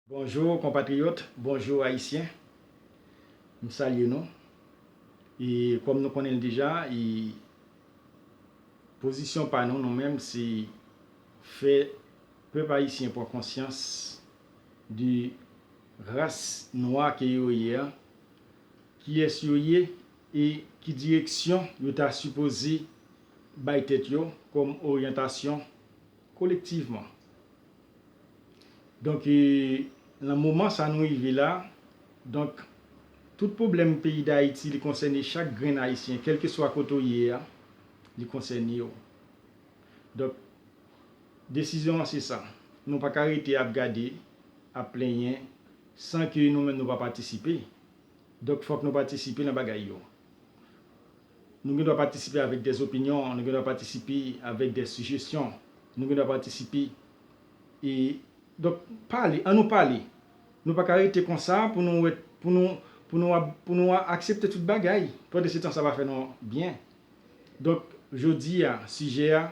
Bonjour konpatriyòt, bonjour ayisyen, m salye nou e kòm nou konnen l deja e pozisyon pa nou nou menm se fè pèp ayisyen pran konsyans de ras nwa ke yo ye a, kiyès yo ye e ki direksyon yo ta sipoze bay tèt yo kòm oryantasyon kolektivman. Donk nan moman sa nou rive la, donk tout pwoblèm peyi Dayiti li konsène chak grenn Ayisyen kèlkeswa kote w ye a, li konsène w. Donk desizyon an se sa, nou pa ka rete ap gade, ap plenyen san ke nou menm nou pa patisipe. Donk fòk nou patisipe nan bagay yo. Nou gen dwa patisipe avèk dè opinyon, nou gen dwa patisipe avèk dè sijesyon, nou gen dwa patisipe e donk pale, an nou pale. Nou pa ka rete konsa pou nou wè, pou nou, pou nou ap, pou nou aksepte tout bagay. Pande se tan sa pa fè nou byen. Donk jodi a sijè a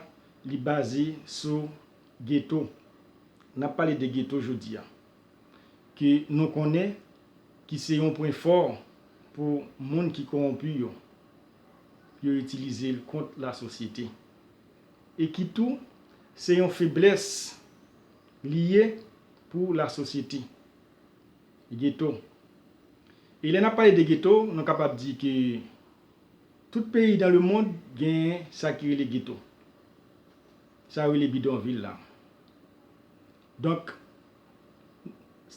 li baze sou geto. N ap pale de geto jodi a. ke nou konnen ki se yon pwen fò pou moun ki kowonpi yo, yo itilize l kont lasosyete, e ki tou se yon feblès li ye pou lasosyete. Geto. E lè n ap pale de geto, nou kapab di ke tout peyi dan le mond genyen sa ki rele geto, sa yo rele bidonvil la. Donk,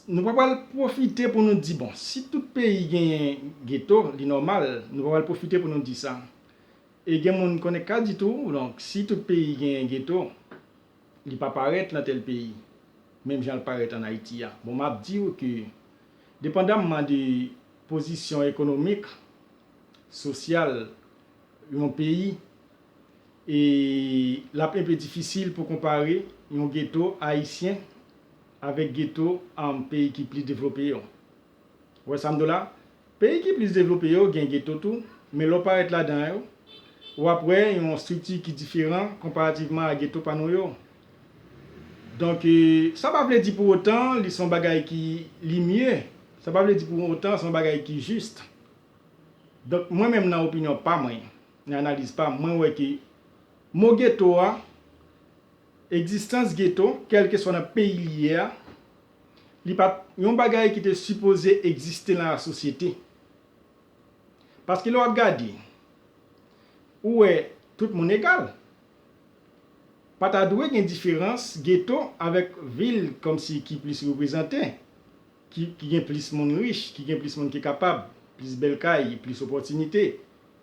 nou pa pral pwofite pou nou di bon, si tout peyi genyen geto, li nòmal, nou pa pral pwofite pou nou di sa. E gen moun konnen ka di tou, donk, si tout peyi genyen geto, li pa parèt lan tèl peyi, menm jan l parèt an Ayiti a. Bon, m ap di ou ke depandamman de pozisyon ekonomik, sosyal yon peyi, e l ap enpe difisil pou konpare yon geto ayisyen avèk geto peyi ki plis devlope yo. Ou wè sa m di w la? Peyi ki plis devlope yo gen geto tou, men lè w parèt ladan yo, w ap wè yon estrikti ki diferan konparativman a geto pa nou yo. Donk, sa pa vle di pou otan li se yon bagay ki li mye, sa pa vle di pou otan se yon bagay ki jis. Donk, mwen menm nan opinyon pa mwen, Nan analiz pa m, mwen wè ke mo geto a, egzistans geto, kèlkeswa nan peyi li ye a, li pa t yon bagay ki te sipoze egziste nan lasosyete. Paske lè w ap gade, ou wè tout moun egal. Pa ta dwe gen diferans geto avèk vil kòmsi ki plis reprezante, ki gen plis moun rich, ki gen plis moun ki kapab, plis bèl kay, plis opòtinite.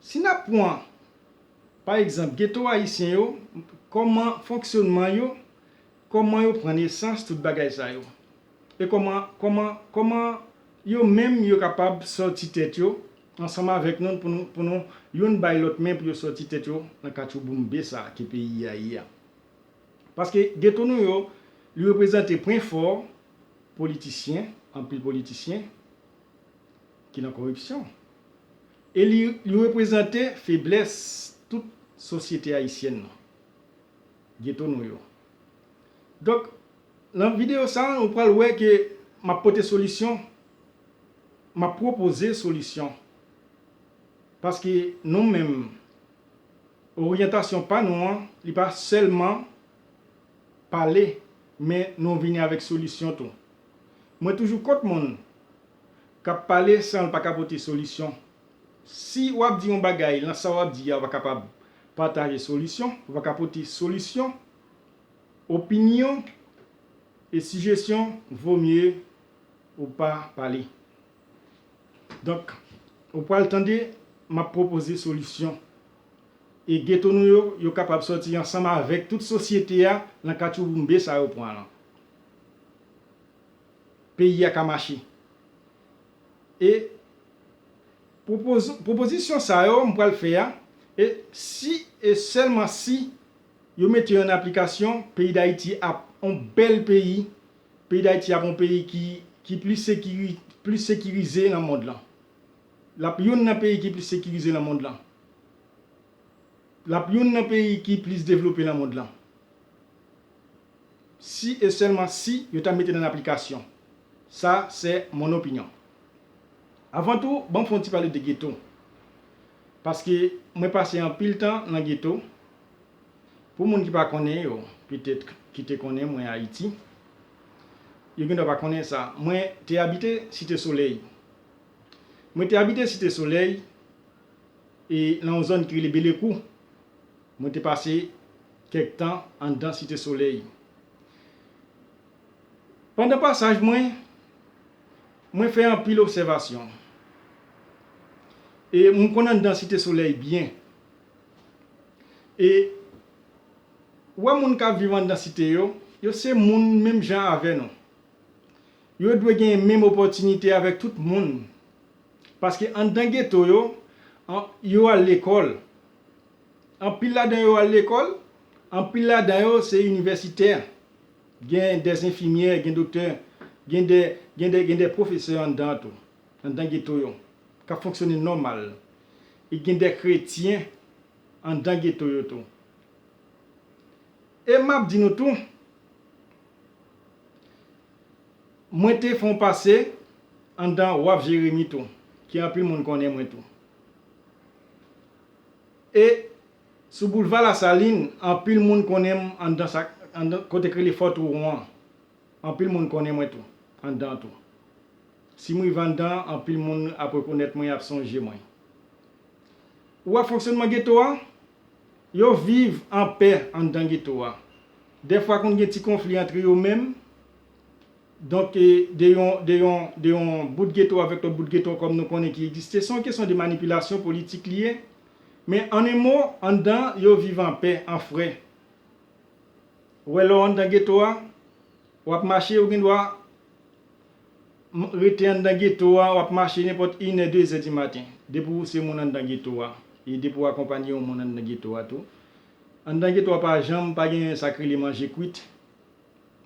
Si n ap pwan, pa egzanp, geto ayisyen yo, kòman fonksyonman yo, kòman yo pran nesans tout bagay sa yo? E kòman, kòman, kòman yo menm yo kapab sòti tèt yo ansanm avèk nou pou nou, pou nou youn bay lòt men pou yo sòti tèt yo nan katchouboumbe sa ke peyi a ye a? Paske geto nou yo, li reprezante pwen fò politisyen, anpil politisyen, ki nan koripsyon e li reprezante feblès tout sosyete ayisyèn nan, geto nou yo. Donk, nan videyo sa a, nou pral wè ke m ap pote solisyon, m ap pwopoze solisyon, paske nou menm, oryantasyon pa nou an, li pa sèlman Pale, men nou vini avèk solisyon tou. Mwen toujou kont moun k ap pale san l pa ka pote solisyon. Si w ap di yon bagay nan sa w ap di a ou pa kapab pataje solisyon, ou pa ka pote solisyon, opinyon e sijesyon vo mye ou pa pale. Donk, ou pral tande m ap pwopoze solisyon. E geto nou yo, yo kapab sòti ansanm avèk tout sosyete a nan katchouboumbe sa yo pran lan. Peyi a ka mache. E pwopozisyon sa yo m pral fè a, e si e sèlman si yo mete yo an aplikasyon, peyi Dayiti ap on bèl peyi Peyi Dayiti ap yon peyi ki plis sekirize nan mond lan. L ap youn nan peyi ki plis sekirize nan mond lan. L ap youn nan peyi ki plis devlope nan mond lan. Si e sèlman si yo ta mete l an aplikasyon. Sa sè mon opinyon. Avan tou, ban m fè yon ti pale de geto. Paske mwen pase anpil tan nan geto. Pou moun ki pa konnen yo, petèt ki te konnen mwen Ayiti, yo gendwa pa konnen sa, mwen te abite Site Solèy. Mwen te abite Site Solèy e nan yon zòn ki rele Belekou. Mwen te pase kèk tan anndan Site Solèy. Pandan pasaj mwen, mwen fè anpil obsèvasyon e m konn anndan Site Solèy byen. E ou wè moun k ap viv anndan site yo, yo se moun menm jan avè nou. Yo dwe genyen menm opòtinite avèk tout moun. Paske anndan geto yo, yo al lekòl. Anpil ladan yo al lekòl, anpil ladan yo se inivèsitè. Gen dè enfimyè, gen doktè, gen dè pwofesè anndan an tou. Anndan geto yo, k ap fonksyone nòmal. E gen de kretyen anndan geto yo tou. E m ap di nou tou, mwen te fè yon pase anndan waf Jeremi tou, ke anpil moun konnen mwen tou. E sou boulva Lasalin, anpil moun konnen m anndan sa, anndan kote k rele Fò Twouwon an. Anpil moun konnen mwen tou, anndan an tou. Si mwen vandan anpil moun ap rekonèt mwen ap sonje mwen. Ou wè fonksyonman geto a? Yo viv anpè anndan geto a. Dèfwa konn gen ti konfli antre yo menm. Donk de yon de yon de yon bout geto avèk lòt bout geto kòm nou konnen ki egziste. Se yon kesyon de manipilasyon politik li ye. Men an en mo anndan yo viv anpè, an frè. Ou wè lè w anndan geto a, w ap mache ou gendwa rete anndan geto a, wap mache nenpòt inè dezè di maten, depi w se moun anndan geto a, e depi w akonpanye yon moun anndan geto a tou. Anndan geto a pa janm pa gen sa k rele manje kwit,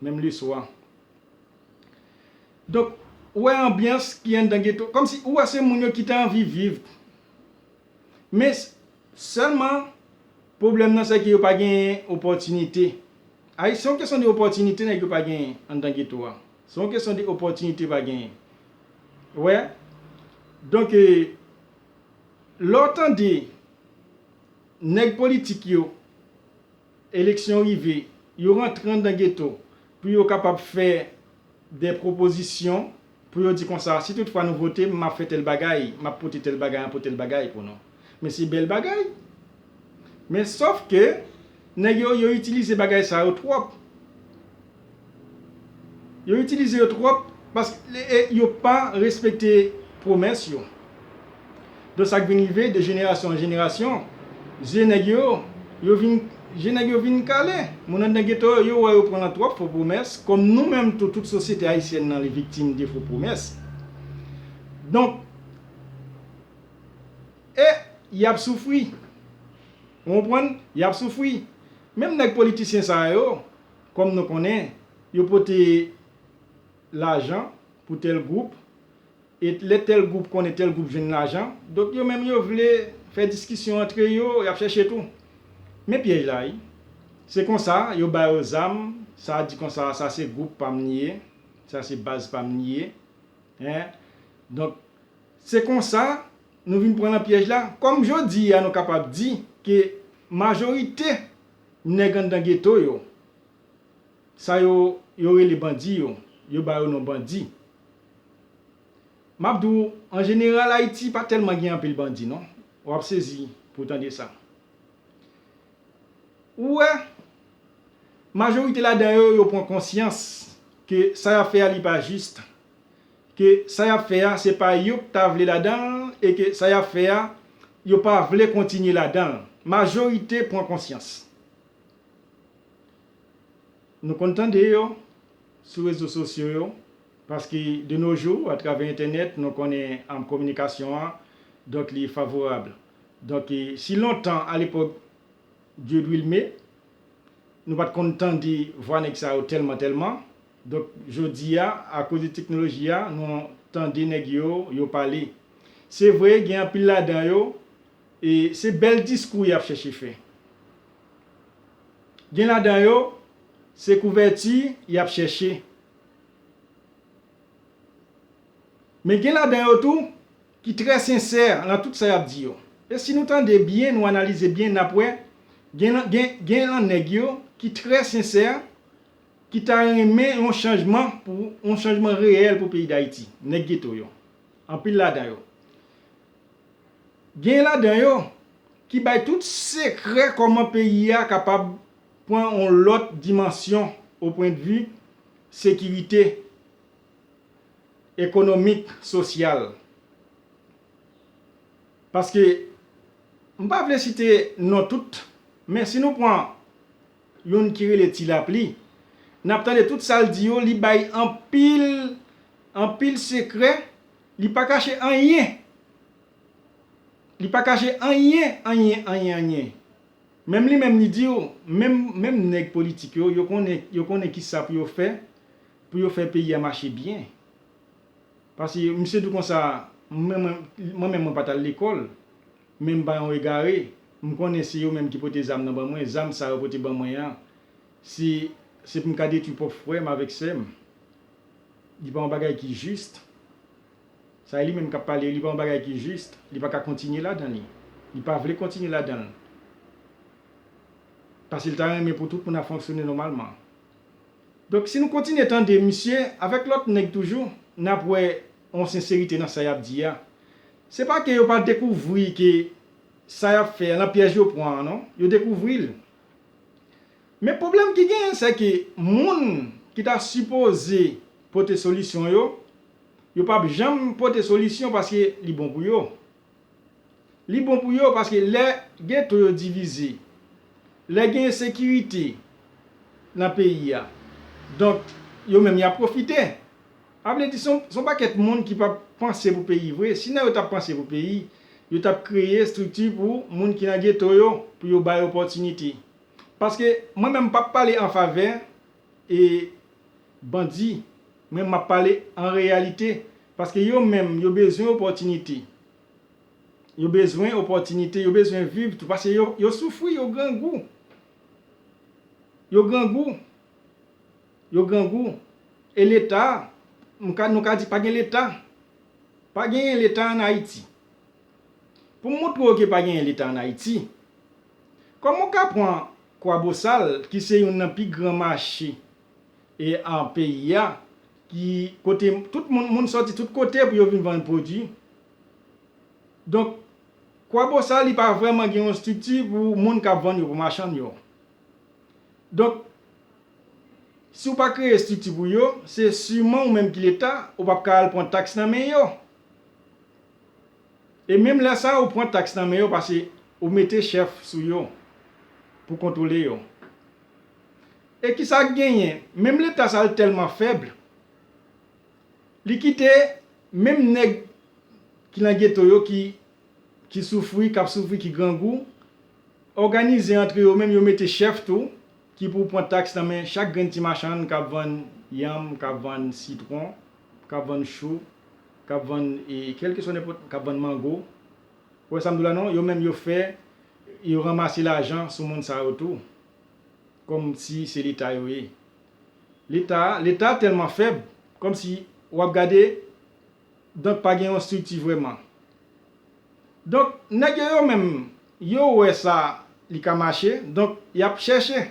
menm leswa. Donk, ou wè anbyans ki anndan geto, kòmsi ou wè se moun yo ki te anvi viv. Men. Sèlman, pwoblèm nan sèke yo pa genyen opòtinite. Ay, se yon kesyon de opòtinite nèg yo pa genyen anndan geto a. Se yon kesyon de opòtinite pa genyen. Ou wè? Donk, lè w tande nèg politik yo. Eleksyon rive, yo rantre anndan geto pou yo kapab fè dè pwopozisyon pou yo di konsa, si tout fwa nou vote m, m ap fè tèl bagay, m ap pote tèl bagay, m ap pote tèl bagay pou nou. Men se bèl bagay. Men sòf ke nèg yo, yo itilize bagay sa yo twòp. Yo itilize yo twòp pask e yo pa respekte pwomès yo. Don sak vin rive de jenerasyon an jenerasyon zye nèg yo yo vin je nèg yo vin kale. Moun anndan geto yo yo wè yo pran nan twòp fo pwomès kòm nou menm tou tout sosyete ayisyèn nan li viktim de fo pwomès. Donk e yap soufri ou konprann yap soufri menm nèg politisyen sa yo. Kòm nou konnen, yo pote lajan pou tèl gwoup, et lè tèl gwoup konnen tèl gwoup jwenn lajan, donk yo menm yo vle fè diskisyon antre yo, y ap chèche tou. Men pyèj la wi. Se konsa, yo ba yo zam, sa a di konsa, sa se gwoup pa m li ye, sa se baz pa m li ye. Hein? Donk, se konsa, nou vin pran nan pyèj la. Kòm jodi a nou kapab di ke majorite. Nèg anndan geto yo, sa yo yo rele bandi yo, yo ba yo non bandi. Map di w, an jeneral Ayiti pa tèlman gen anpil bandi non. W ap sezi pou w tande sa. Ou wè, majorite ladan yo, yo pran konsyans ke sa y ap fè a li pa jis. ke sa y ap fè a se pa yo k ta vle ladan l e ke sa y ap fè a yo pa vle kontinye ladan l. Majorite pran konsyans. Nou konn tande yo sou rezo sosyo yo paske de no jou atravè entènèt nou konnen kominikasyon an donk li favorab. Donk si lontan alepòk Dieudwilme nou pa t konn tande vwa nèg sa yo tèlman tèlman Donk jodi a, akoz de teknoloji a, nou tande nèg yo, yo pale. Se vre, gen anpil ladan yo, e se bèl diskou y ap chèche fè. Gen ladan yo, se kouvèti y ap chèche. Men gen ladan yo tou, ki trè sensè lan tout sa y ap di yo. E si nou tande byen, nou analize byen, n ap wè, gen lan nèg yo, ki trè sensè Ki ta renmen yon chanjman pou yon chanjman reyèl pou peyi Dayiti. Nèg geto yo. Anpil ladan yo. Genyen ladan yo ki bay tout sekrè kòman peyi a kapab pran yon lòt dimansyon o pwen de vi sekirite ekonomik, sosyal. Paske m pa vle site non tout men si nou pran Youn ki rele ti lapli. Nap tande tout sal di yo li bay anpil anpil sekrè li pa kache anyen li pa kache anyen anyen anyen anyen menm li menm li diw menm menm nèg politik yo yo konnen yo konnen kisa pou yo fè pou yo fè peyi a mache byen paske misye di konsa mwen menm mwen pat al lekòl Men m pa yon egare. M konnen se yo menm ki pote zam nan ban mwen. Zam sa yo pote ban mwen an, se se pou m ka detwi pwòp frè m avèk sè m. Li pa yon bagay ki jis. Sa e li menm k ap pale. Li pa yon bagay ki jis. Li pa ka kontinye ladan li. Li pa vle kontinye ladan l. Pase l ta renmen pou tout moun ap fonksyone nòmalman. Donk si nou kontinye tande misye avèk lòt nèg toujou, n ap wè. yon senserite nan sa y ap di a. Se pa ke yo pa dekouvri ke sa y ap fè a nan pyèj yo pran an non, yo dekouvri l. Men pwoblèm ki genyen sè ke moun ki ta sipoze pote solisyon yo, yo p ap janm pote solisyon paske li bon pou yo. Li bon pou yo paske lè geto yo divize, lè gen ensekirite nan peyi a, donk yo menm y ap pwofite. A vle di se yon pakèt moun ki pa panse pou peyi vre. Si nèg yo t ap panse pou peyi, yo t ap kreye estrikti pou moun ki nan geto yo, pou yo ba yo opòtinite. Paske mwen menm m p ap pale anfavè. E bandi, mwen map pale an reyalite, paske yo menm yo bezwen opòtinite, yo bezwen opòtinite, yo bezwen viv tou, paske yo soufri, yo grangou, yo grangou, yo grangou, e leta, nou ka di pa gen leta, pa genyen leta an Ayiti. Pou m montre w ke pa genyen leta an Ayiti, kòman w ka pran Kwabosal ki se youn nan pi gran mache e an peyi a ki kote tout moun moun sòti tout kote pou yo vin vann pwodui. Donk kwabosal li pa vrèman gen yon strikti pou moun kap vann yo pou machann yo. Donk si ou pa kreye strikti pou yo se siman ou menm ki leta ou pap ka al pwan taks nan men yo. E menm lè sa ou pran taks nan men yo pase ou mete chèf sou yo pou kontwole yo. E kisa k genyen menm leta sa l tèlman fèb li kite menm nèg ki nan geto yo ki ki soufri k ap soufri ki grangou òganize antre yo menm yo mete chèf tou ki pou pran taks nan men chak grenn ti machann k ap vann yanm k ap vann sitwon k ap vann chou, k ap vann kèlkeswa nenpòt, k ap vann mango. Ou wè sa m di w la non? Yo menm yo fè, yo ranmase lajan sou moun sa yo tou. Kòmsi se Leta yo ye. Leta, Leta tèlman fèb, kòmsi w ap gade, donk pa gen yon estrikti vrèman. Donk nèg yo yo menm, yo wè sa li ka mache, donk y ap chèche.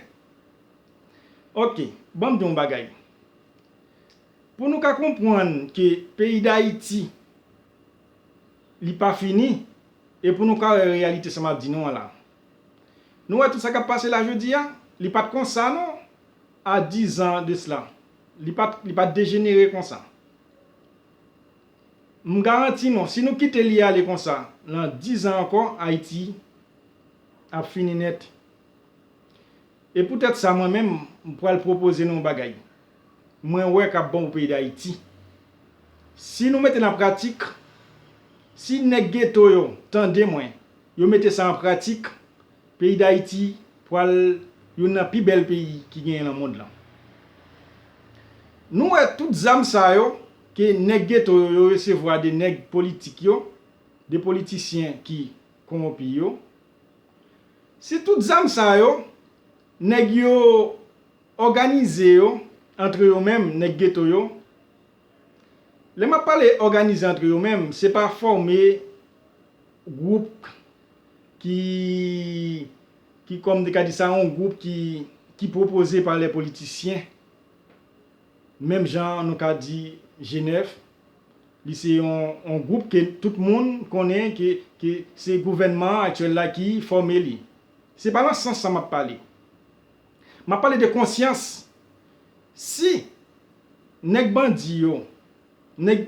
Ok, ban m di w yon bagay. Pou nou ka konpwann ke peyi Dayiti li pa fini e pou nou ka wè reyalite sa map di nou an la. Nou wè tout sa kap pase la jodi a, li pat konsa non a 10 an de sla. Li pat li pat dejenere konsa. M garanti nou si nou kite li ale konsa lan 10 an ankò Ayiti ap fini nèt. E pou tèt sa mwen menm m pwal pwopoze nou yon bagay. mwen wè kap bon pou peyi dayiti si nou mete l an pratik si nèg geto yo tande mwen yo mete sa an pratik peyi dayiti pwal youn nan pi bèl peyi ki genyen nan mond lan nou wè tout zam sa yo ke nèg geto yo yo resevwa de nèg politik yo de politisyen ki konwopi yo si tout zam sa yo nèg yo Òganize yo antre yo menm nèg geto yo, lè map pale òganize antre yo menm se pa fòme gwoup ki ki kòm te ka di sa yon gwoup ki ki pwopoze pa lè politisyen menm jan nou ka di G9 li se yon yon gwoup ke tout moun konnen ke ke se gouvènman aktyèl la ki fòme li se pa nan sans sa map pale. M ap pale de konsyans. Si nèg bandi yo, nèg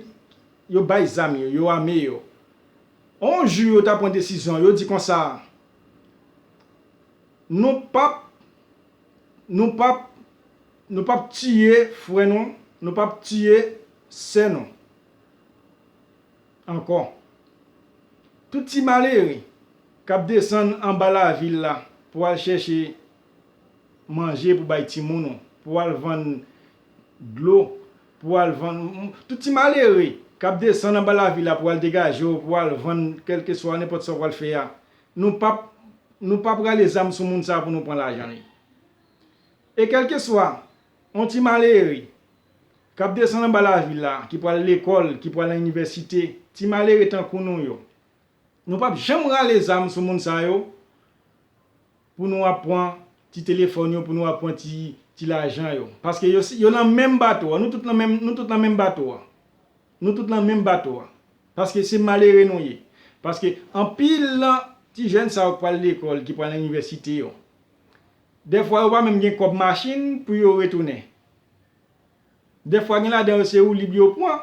yo bay zam yo, yo ame yo, on jou yo ta pran desizyon, yo di konsa, Nou pap, nou pap, nou pap tiye frè nou, nou pap tiye sè nou. Ankò. Tout ti malere k ap desann anba lavil la pou al chèche manje pou bay timoun ou, pou al vann dlo, pou al vann, tout ti malere k ap desann anba lavil la pou al degaje w, pou al vann kèlkeswa nenpòt sa w pral fè a, nou p ap, nou p ap rale zam sou moun sa a pou nou pran lajan li. E kèlkeswa. On ti malere, k ap desann anba lavi la, ki pral lekòl, ki pral nan inivèsite, ti malere tankou nou yo. Nou p ap janm rale zam sou moun sa yo, pou nou ap pran ti telefòn yo, pou nou ap pran ti lajan yo. Paske yo nan menm bato a, nou tout nan menm bato a. Nou tout nan menm bato a. Paske se malere nou ye. Paske anpil nan ti jèn sa yo k pral lekòl, ki pral nan inivèsite yo, Dèfwa yo pa menm gen kòb machin pou yo retounen. Dèfwa gen ladan yo se woulib yo pran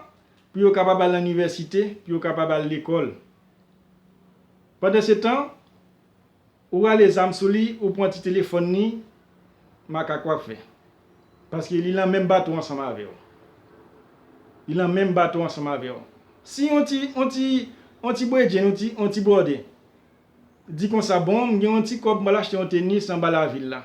pou yo kapab al nan inivèsite, pou yo kapab al lekòl. Pandansetan, ou rale zam sou li, ou pran ti telefòn li, makak w ap fè. Paske li lan menm bato ansanm avè w. Li lan menm bato ansanm avè w. Si yon ti bredjenn ou, yon ti bròdè, Di konsa bon m gen yon ti kòb m pral achte yon tenis anba lavil la.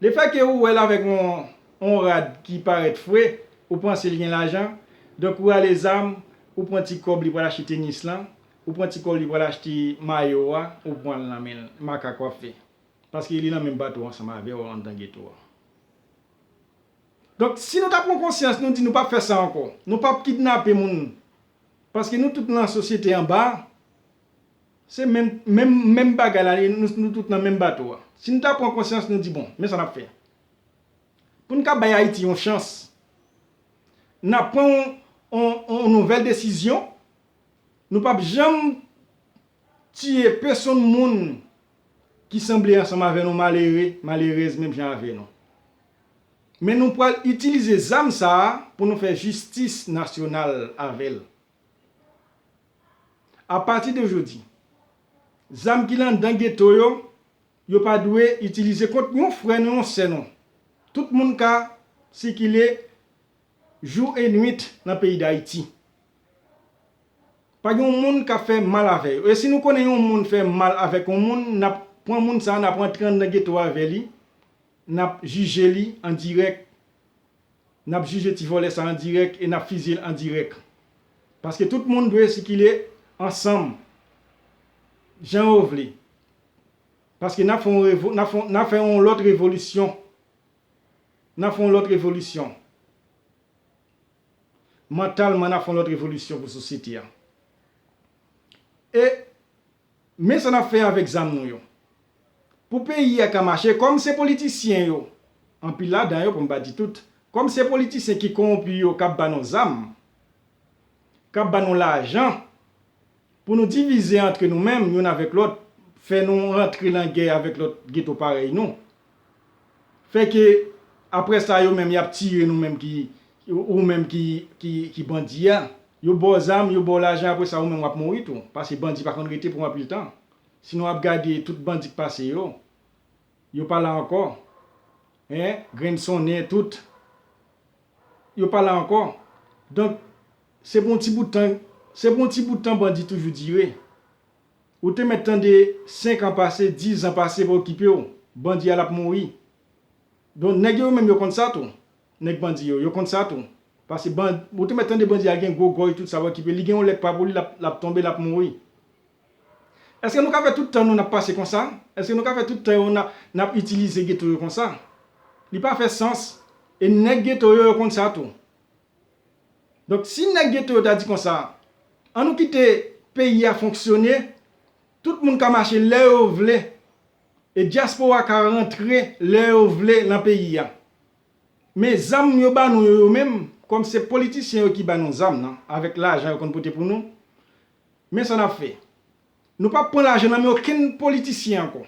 Lefèke ou wè l avèk yon rad ki parèt fre, ou panse l gen lajan, donk ou ale zam, ou pran ti kòb li pral achte tenis lan, ou pran ti kòb li pral achte mayo a, ou pran l nan men l, makak w ap fè. Paske li nan menm bato ansanm avè w anndan geto a. Donk si nou ta pran konsyans nou di nou p ap fè sa ankò, nou p ap kidnape moun paske nou tout nan sosyete anba, Se menm menm menm bagay la ye, nou nou tout nan menm bato a. Si nou ta pran konsyans nou di bon, men sa n'ap fè. Pou nou ka bay Ayiti yon chans, n'ap pran yon yon yon nouvèl desizyon, nou p'ap janm tiye pesonn moun ki sanble ansanm avè nou malere, malerèz menm jan avè nou. Men nou pral itilize zam sa a pou nou fè jistis nasyonal avè l. A pati de jodi, zam ki landan geto yo, yo pa dwe itilize kont yon frè nou, yon sè nou. Tout moun ka sikile jou e nwit nan peyi Dayiti. Pa gen yon moun ka fè mal avè yo. E si nou konnen yon moun fè mal avèk yon moun, n ap pran moun sa a, n ap rantre anndan geto a avè li, n ap jije li an dirèk. Nap jije ti vòlè sa an dirèk e nap fizye l an dirèk. Paske tout moun dwe sikile ansanm jan yo vle. Paske nap fè yon revo, nap fè, nap fè yon lòt revolisyon. Nap fè yon lòt revolisyon. Mantalman nap fè yon lòt revolisyon pou sosyete a. E. Men sa nap fè avèk zam nou yo. Pou peyi a ka mache kòm se politisyen yo, anpil ladan yo pou m pa di tout, kòm se politisyen ki kowonpi yo kap ba nou zam, kap ba nou lajan pou nou divize antre nou menm youn avèk lòt, fè nou rantre lan gè avèk lòt geto parèy nou, Fè ke aprè sa yo menm yap tire nou menm ki ou menm ki bandi a. Yo ba w zam, yo ba w lajan aprè sa ou menm wap mouri tou. Pase bandi pa konn rete pou anpil tan. Si nou ap gade tout bandi k pase yo, yo pa la ankò. Hein, grenn sonnen tout. Yo pa la ankò. Donk se pou yon ti bout tan, se pou yon ti bout tan bandi toujou dire. Ou te mèt tande 5 an pase 10 an pase pa okipew bandi a lap mouri don nèg yo menm yo konn sa tou nèg bandi yo yo konn sa tou pase ban ou te mèt tande bandi a gen gwo gòj tout sa pa okipe li gen yon lè k pa pou li lap lap tonbe lap mouri èske nou ka fè tout tan nou nap pase konsa èske nou ka fè tout tan yo na nap itilize geto yo konsa li pa fè sans e nèg geto yo yo konn sa tou Donk si nèg geto yo ta di konsa, an nou kite peyi a fonksyone, tout moun ka mache lè yo vle, e dyaspora ka rantre lè yo vle lan peyi a. Men zam yo ba nou yo yo menm, kòm se politisyen yo ki ba nou zam nan, avèk lajan yo konn pote pou nou, men sa n ap fè. Nou p ap pran lajan nan men okenn politisyen ankò.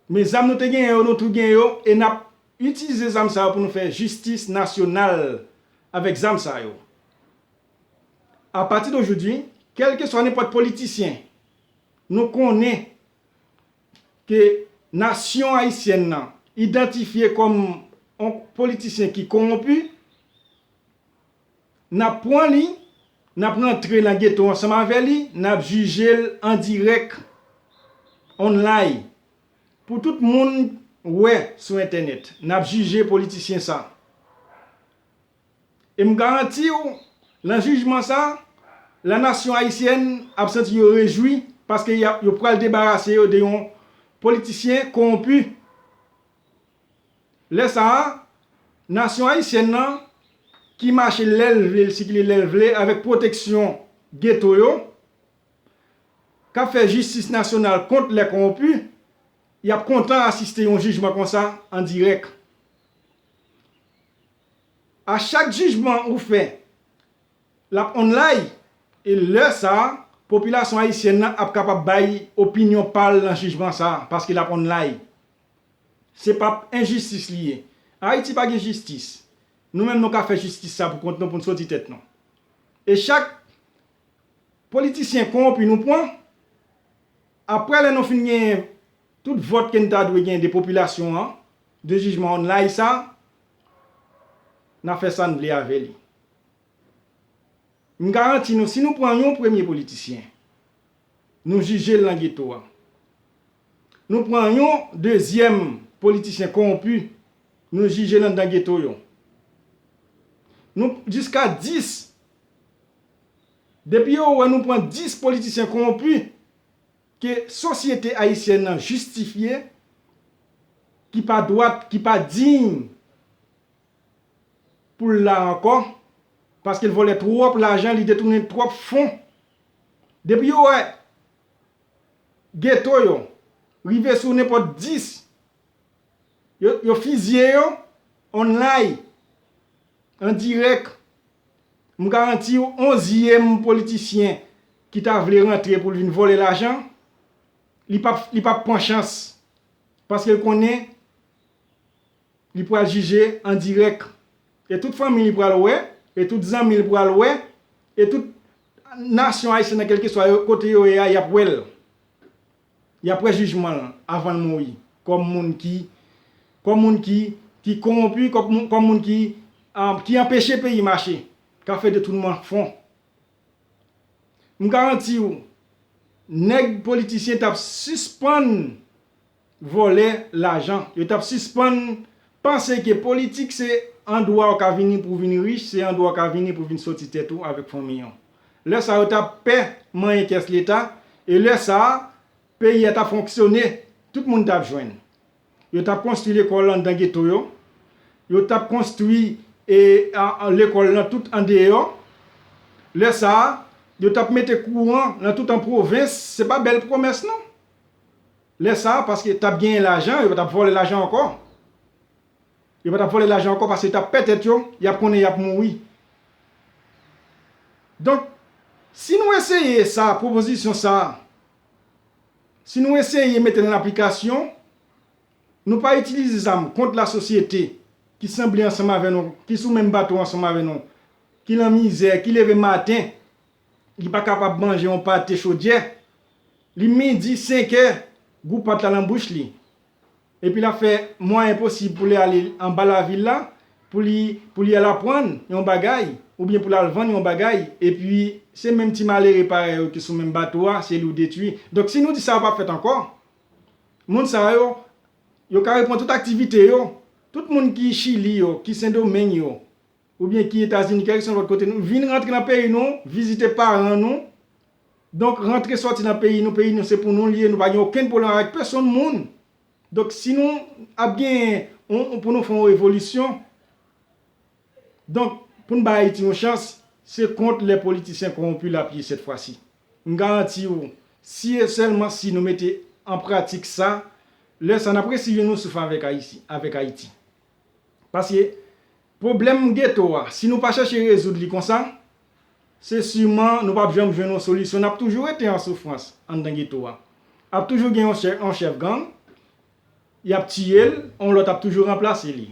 Men zam nou te genyen yo nou tou gen yo e nap itilize zam sa yo pou nou fè jistis nasyonal avèk zam sa yo. A pati dojoudwi, kèlkeswa nenpòt politisyen, nou konnen ke nasyon ayisyèn nan idantifye kòm yon politisyen ki konwonpi, N ap pran li, n ap rantre nan geto ansanm avè li, n ap jije l an dirèk, online, pou tout moun wè sou entènèt. N ap jije politisyen sa. E m garanti w, lan jijman sa, la nasyon ayisyèn ap santi yo rejwi paske y ap yo pral debarase yo de yon politisyen kowonpi. Lè sa a, nasyon ayisyèn nan, ki mache lè l vle, l sikile lè l vle avèk pwoteksyon geto yo, k ap fè jistis nasyonal kont lè kowonpi, y ap kontan asiste yon jijman konsa an dirèk. A chak jijman ou fè, l ap onlay e lè sa a, popilasyon ayisyèn nan ap kapab bay opinyon pa l nan jijman sa a paske l ap onlay. Se pap enjistis li ye. Ayiti pa gen jistis. Nou menm nou ka fè jistis sa pou kont nou pou n soti tèt nou. E chak politisyen kowonpi nou pwan, aprè lè nou fin genyen tout vòt ke n ta dwe genyen de popilasyon an, de jijman online sa, na fè sa n vle avè li. M garanti nou si nou pran yon premye politisyen, Nou jijel nan geto a. Nou pran yon dezyèm politichyen kowonpi nou jijel anndan geto yo. Nou jiska 10. Depi yo wè nou pran 10 politisyen kowonpi ke sosyete ayisyèn nan jistifye ki pa dwat, ki pa diy pou l la ankò paske l vòlè twòp lajan li detounen twòp fon depi yo wè geto yo rive sou nenpòt 10 yo fizye yo onlay an dirèk m garanti w onzyèm politisyen ki ta vle rantre pou l vin vòlè lajan li pap pran chans paske l konnen Li pral jije an dirèk. E tout fanmi li pral wè, e tout zanmi li pral wè, e tout nasyon Ayisyen nan kèlkeswa kote yo ye a y ap wè l. Y ap wè jijman l avan l mouri kòm moun ki kòm moun ki ki kowonpi kòm moun ki ki anpeche peyi mache k ap fè detounman fon. M garanti w nèg politisyen t ap sispann vòlè lajan. Yo tap sispann panse ke politik se andwa ou ka vini pou vin rich, se andwa ou ka vini pou vin soti tèt ou avèk fanmiy ou. Lè sa yo tap pè manyen kès leta e lè sa peyi a tap fonksyone, tout moun tap jwenn. Yo tap konstwi lekòl anndan geto yo, yo tap konstwi lekòl nan tout andeyò, lè sa yo tap mete kouran nan tout an pwovens, se pa bèl pwomès non. Lè sa a paske tap genyen lajan yo patap vòlè lajan ankò yo patap vòlè lajan ankò paske yo tap pè tèt yo yap konnen yap mouri donk si nou eseye sa pwopozisyon sa si nou eseye mete l an aplikasyon nou pa itilize zam kont la sosyete ki sanble ansanm avè nou ki sou menm bato ansanm avè nou ki lan mizè ki leve maten Li pa kapab manje yon pate chodyè. Li midi, senkè, gou pat la nan bouch li. Epi l ap fè mwayen posib pou li ale anba lavil la, pou li pou li al aprann yon bagay, oubyen pou l al vann yon bagay, epi se menm ti malere parèy ou ki sou menm bato a, se li ou detui. Donk si nou di sa yo pa fèt ankò, moun sa yo, yo ka reprann tout aktivite yo. Tout moun ki Chili yo, ki Sendomeng yo, ou byen ki etazini kèl son lòt kote nou vin rantre nan peyi nou vizite paran nou donk rantre sòti nan peyi nou peyi nou se pou nou li ye nou pa gen okenn pwoblèm avèk pesonn moun donk si nou ap gen yon pou nou fè yon evolisyon donk pou n bay ayiti yon chans se kont lè politisyen kowonpi l ap ye sèt fwa si m garanti w si e sèlman si nou mete an pratik sa lè sa n ap resi jwenn yon souf avèk ayiti. Paske pwoblèm geto a, si nou pa chèche rezoud li konsa, se siman nou pap janm jwenn yon solisyon, nap toujou rete an soufrans anndan geto a. Ap toujou gen yon chèf gang, yap tiye l, yon lòt ap toujou ranplase li.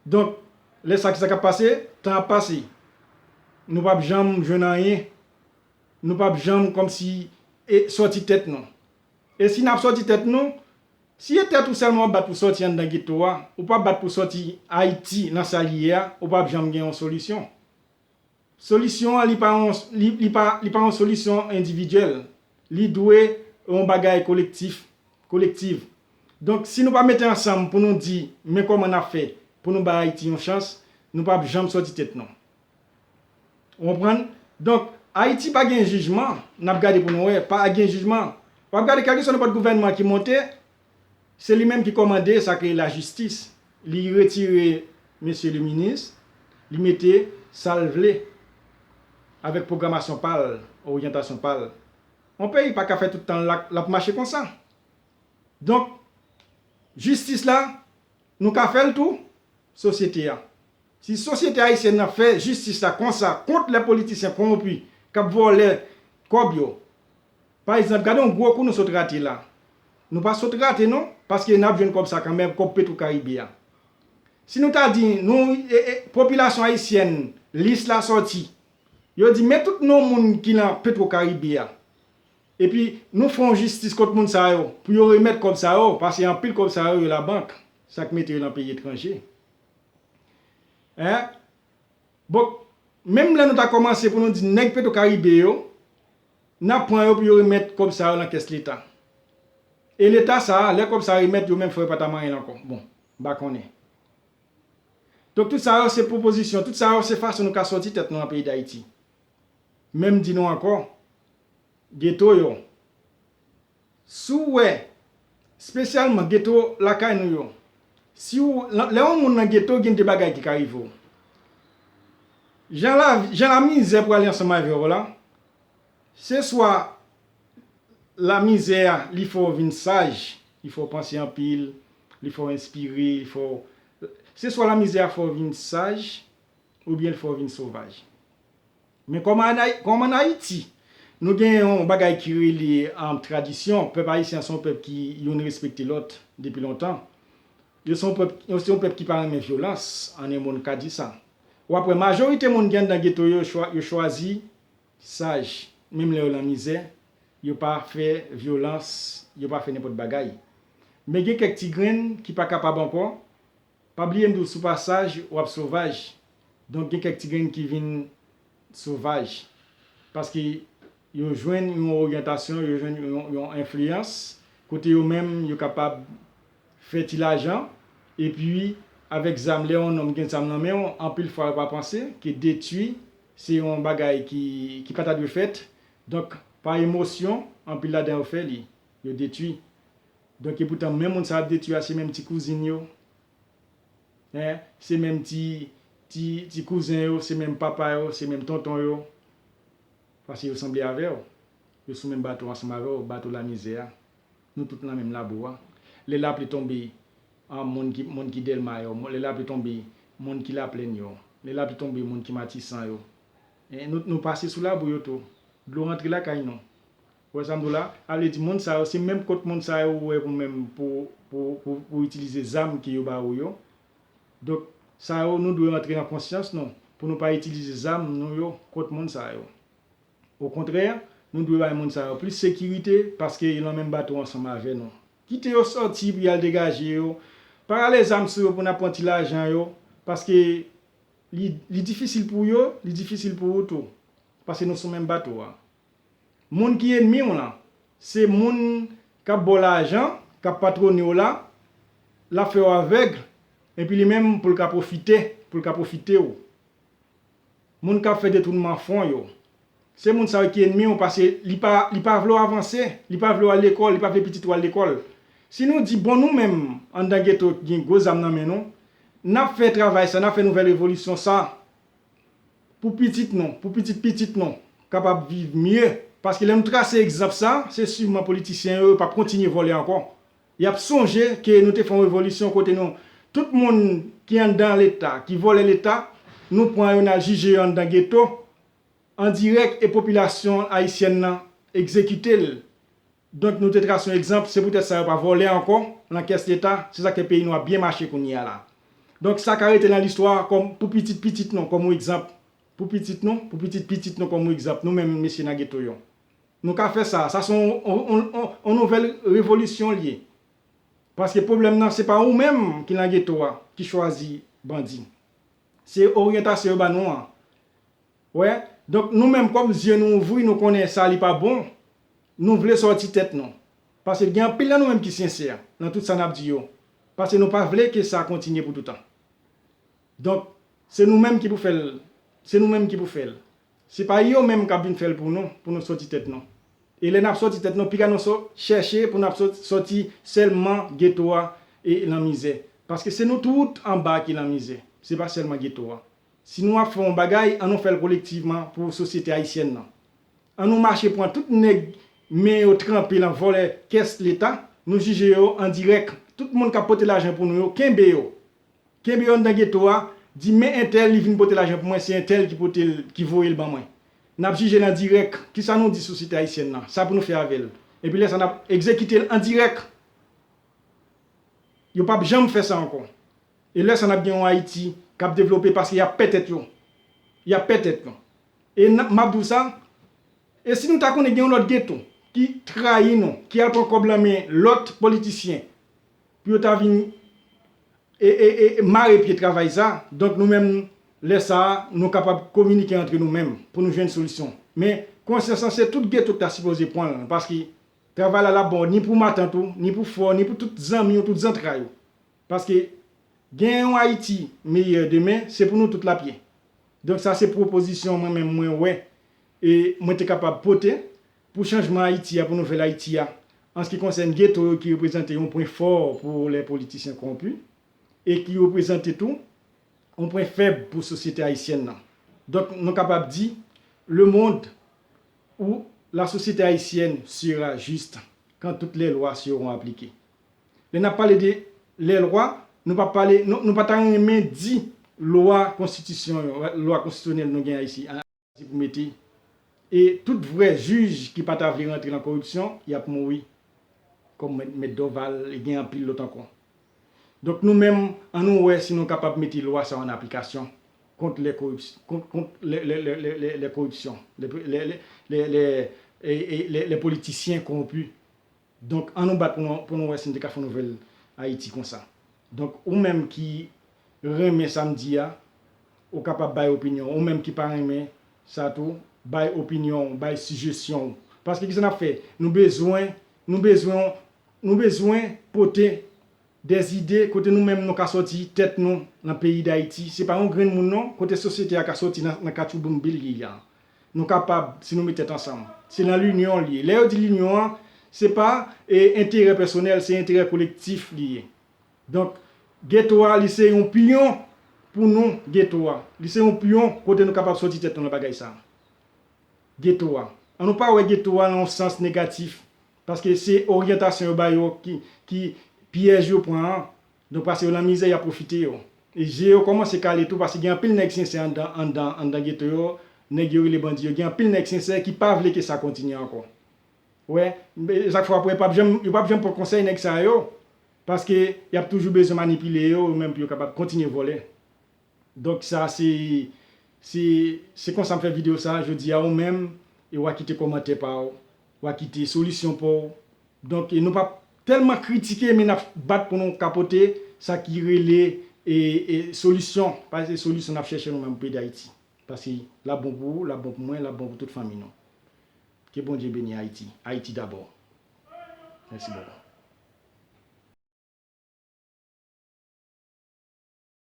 Donk, lè sa ki sa kap pase? Tan ap pase. Nou pap janm jwenn anyen. Nou pap janm kòmsi sòti tèt nou. E si nap sòti tèt nou, Si e tèt ou sèlman wap bat pou sòti anndan geto a, ou pa bat pou sòti Ayiti nan sa li ye a, ou pap janm gen yon solisyon. Solisyon an li pa yon li pa li pa yon solisyon endividyèl, li dwe yon bagay kolektif, kolektiv. Donk si nou pa mete ansanm pou nou di men kòman nap fè pou nou bay Ayiti yon chans, nou pap janm sòti tèt nou. Ou konprann? Donk, Ayiti pa gen jijman, n ap gade pou nou wè, pa gen jijman. W ap gade kèlkeswa nenpòt gouvènman ki monte, se li menm ki kòmande sa ki rele lajistis. Li retire mesye le minis, li mete sa l vle avèk pwogramasyon pa l, oryantasyon pa l. Yon peyi pa ka fè tout tan l la, l ap mache konsa. Donk, jistis la, nou ka fè l tou, sosyete a. Si sosyete ayisyèn nan fè jistis la konsa kont lè politisyen kowonpi k ap vòlè kòb yo pa egzanp gade yon gwo kou nou sot rate la nou pa sot rate non paske n ap jwenn kòb sa kanmèm kòb petro karibe a si nou ta di nou popilasyon ayisyèn lis la sòti yo di men tout non moun ki nan petro karibe a epi nou fè yon jistis kont moun sa yo pou yo remèt kòb sa yo pase anpil kòb sa yo yo labank sa k mete yo nan peyi etranje. Hein Bon Menm lè nou ta kòmanse pou nou di nèg petro karibe yo nan pran yo pou yo remèt kòb sa yo nan kès leta e leta sa lè kòb sa remèt yo menm fò yo pata manyenl ankò bon m pa konnen donk tout sa yo se pwopozisyon tout sa yo se fason nou ka sòti tèt nou nan peyi dayiti menm di nou ankò geto yo. Si w wè, spesyalman geto lakay nou yo, si w, lè yon moun nan geto gen de bagay ki ka rive w. Jan lavi, jan lamizè pwale ansanm avè w la, se swa lamizè a li fè w vin saj, li fè w panse anpil, li fè w enspire, li fè w, se swa lamizè a fè w vin saj oubyen li fè w vin sovaj. Men kòm an Ayiti, nou gen yon bagay ki rele tradisyon, pèp ayisyen an se yon pèp ki youn respekte lòt depi lontan. Yo se yon pèp ki pa renmen vyolans, an en mo n ka di sa. W ap wè majorite moun ki anndan geto yo, yo chwazi saj, menm lè yo lan mizè, yo pa fè vyolans, yo pa fè nenpòt bagay. Men gen kèk ti grenn ki pa kapab ankò, Pa bliye m di w si w pa saj, w ap sovaj. Donk gen kèk ti grenn ki vin sovaj. Paske yo jwenn yon oryantasyon, yo jwenn yon enfliyans kote yo menm yo kapab fè ti lajan. Epi avèk zam, lè yon nonm gen zam nan men w, anpil fwa yo pa panse ke detui se yon bagay ki pa ta dwe fèt. Donk pa emosyon, anpil ladan yo fè li. Yo detwi. Donk e poutan menm moun sa ap detwi a se menm ti kouzin yo. Hein, se menm ti, ti, ti kouzen yo, se menm papa yo, se menm tonton yo. Paske yo sanble avè w. Yo sou menm bato ansanm avè w, bato lamizè a. Nou tout nan menm labou a. Lè lapli tonbe, an, moun ki, moun ki Dèlma yo, lè lapli tonbe, moun ki Laplèn yo, lè lapli tonbe, moun ki Matisan yo. Hein, nou, nou pase sou labou yo tou. Dlo rantre lakay nou. Ou wè sa m di w la? A vle di moun sa yo se menm kont moun sa yo ou wè pou menm pou pou w itilize zam ke yo ba ou yo. Donk, sa yo nou dwe rantre nan konsyans nou pou nou pa itilize zam nou yo kont moun sa yo. Okontrè, nou dwe bay moun sa yo plis sekirite paske yo nan menm bato ansanm avè nou. Kite yo sòti pou y al degaje yo. Pa rale zam sou yo pou n ap pran ti lajan yo paske li li difisil pou yo, li difisil pou ou tou paske nou sou menm bato a. Moun ki enmi w lan, se moun k ap ba w lajan, k ap patwone w la, l ap fè w avèg, epi li menm pou l ka pwofite, pou l ka pwofite w. Moun k ap fè detounman fon yo, se moun sa yo ki enmi w paske li pa vle w avanse, li pa vle w al lekòl, li pa vle pitit ou al lekòl. Si nou di bon nou menm anndan geto gen gwo zam nan men nou, n ap fè travay sa, n ap fè nouvèl revolisyon sa. pou pitit nou, pou pitit pitit nou kapab viv mye paske lè nou trase egzanp sa se siman politisyen yo yo pap kontinye vòlè ankò yap sonje ke nou te fon revolisyon kote nou tout moun ki anndan leta ki vòlè leta nou pran yo nal jije yo anndan geto an dirèk e popilasyon ayisyèn nan egzekitel. Donk nou te trase yon egzanp, se poutèt sa yo pa vòlè ankò nan kès leta, se sak fè peyi nou ap byen mache kounye a la. Donk sa ka rete nan listwa kòm pou pitit pitit nou kòm yon egzanp pou pitit nou, pou pitit pitit nou kòm yon egzanp nou menm mesye nan geto yo. Nou ka fè sa, sa se yon yon nouvèl revolisyon li ye. Paske pwoblèm nan se pa ou menm ki nan geto a ki chwazi bandi. Se oryantasyon yo ba nou an. Wè? Donk nou menm kòm zye nou ouvri nou konnen sa li pa bon, Nou vle sòti tèt nou. Pase gen anpil nan nou menm ki sensè nan tout sa nap di yo. Pase nou pa vle ke sa kontinye pou toutan. Donk, se nou menm ki pou fèl, se nou menm ki pou fèl. Se pa yo menm kap vin fèl pou nou, pou nou sòti tèt nou. E lè nap sòti tèt nou, piga nou so, chèche pou nap sòti sèlman geto a e lan mizè. Paske se nou tout anba ki lan mizè. Se pa sèlman geto a. Si nou ap fè yon bagay, an nou fèl kolektivman pou sosyete ayisyèn nan. An nou mache pran tout nèg men yo tranpe lan vòlè kès leta nou jije yo an dirèk tout moun kap pote lajan pou nou yo kenbe yo kenbe yo anndan geto a di men entèl li vin pote lajan pou mwen se entèl ki potel ki voyel ban mwen nap jijel an dirèk kisa nou di sosyete ayisyèn lan sa pou nou fè avèl epi lèsa nap egzekitel an dirèk yo pap janm fè sa ankò e lèsa nap gen yon ayiti kap devlope paske yap pè tèt yo yap pè tèt yo. E nan, map di w sa, e si nou ta konnen gen yon lòt Geton ki trayi nou, ki al pran kòb lan men lòt politisyen pou yo ta vin e, e, e mare pye travay sa, donk nou menm lè sa a nou kapab kominike antre nou menm pou nou jwenn solisyon. Men, konsyans lan se tout Geto ki ta sipoze pran l, paske travay la lap bon ni pou matant ou, ni pou frè w, ni pou tout zanmi w, tout zantray ou. Paske gen yon Ayiti meyè demen se pou nou tout l ap ye. Donk sa se pwopozisyon mwen menm mwen wè e mwen te kapab pote pou chanjman Ayiti a, pou nouvèl Ayiti a an s ki konsèn geto yo ki reprezante yon pwen fò pou lè politisyen kowonpi e ki reprezante tou yon pwen fèb pou sosyete ayisyèn nan. Donk nou kapab di lemond ou la sosyete ayisyèn sera juste quand toutes les lois seront appliquées. Lè n ap pale de lè lwa, nou pa pale, nou pa ta renmen di lwa konstitisyon yo, lwa konstitisyonèl nou gen Ayiti a se pou mete. E tout vrè jij ki pa ta vle rantre nan koripsyon, y ap mouri. Kòm mèt Dòval, e gen anpil lòt ankò. Donk nou menm, an nou wè si nou kapab mete lwa sa yo an aplikasyon kont lè kont lè koripsyon, lè lè lè lè lè lè politisyen kowonpi Donk an nou bat pou nou pou nou wè si nou te ka fè yon nouvèl Ayiti konsa. Donk ou menm ki renmen sa m di a, ou kapab bay opinyon w. Ou menm ki pa renmen sa tou, bay opinyon w, bay sijesyon w. Paske kisa n ap fè? Nou bezwen, nou bezwen yon, nou bezwen pote dè zide kote nou menm nou ka sòti tèt nou nan peyi Dayiti. Se pa yon grenn moun non, kote sosyete a ka sòti nan katchouboumbe li ye a. Nou kapab si nou met tèt ansanm. Se nan linyon li ye. Lè yo di linyon an, se pa enterè pèsonèl, se enterè kolektif li ye. Donk, geto a li se yon pyon pou nou geto a. Li se yon pyon kote nou kapab soti tèt nou nan bagay sa a. Geto a. An nou pa wè geto a nan yon sans negatif. Paske se oryantasyon yo ba yo ki pyèj yo pran an. Nou pase yo nan mizè yap profite yo. E je yo komanse kale tou paske gen anpil nèg sensè andan andan andan geto yo nèg yo rele bandi yo gen anpil nèg sensè ki pa vle ke sa kontinye ankò wè ezak fè wap wè pap janm yo pap janm pran konsèy nèg sa yo paske yap toujou bezwen manipile yo yo menm pou yo kapab kontinye vòlè. Donk sa se se se konsa m fè video sa jodi a ou menm e wa kite komantè pa w wa kite solisyon pa w donk e nou pap tèlman kritike men nap bat pou nou ka pote sa ki rele e e solisyon paske se solisyon nap chèche nou menm pou peyi dayiti paske lap bon pou ou lap bon pou mwen lap bon pou tout fanmi nou ke bondye beni ayiti ayiti dabò mèsi bòkò.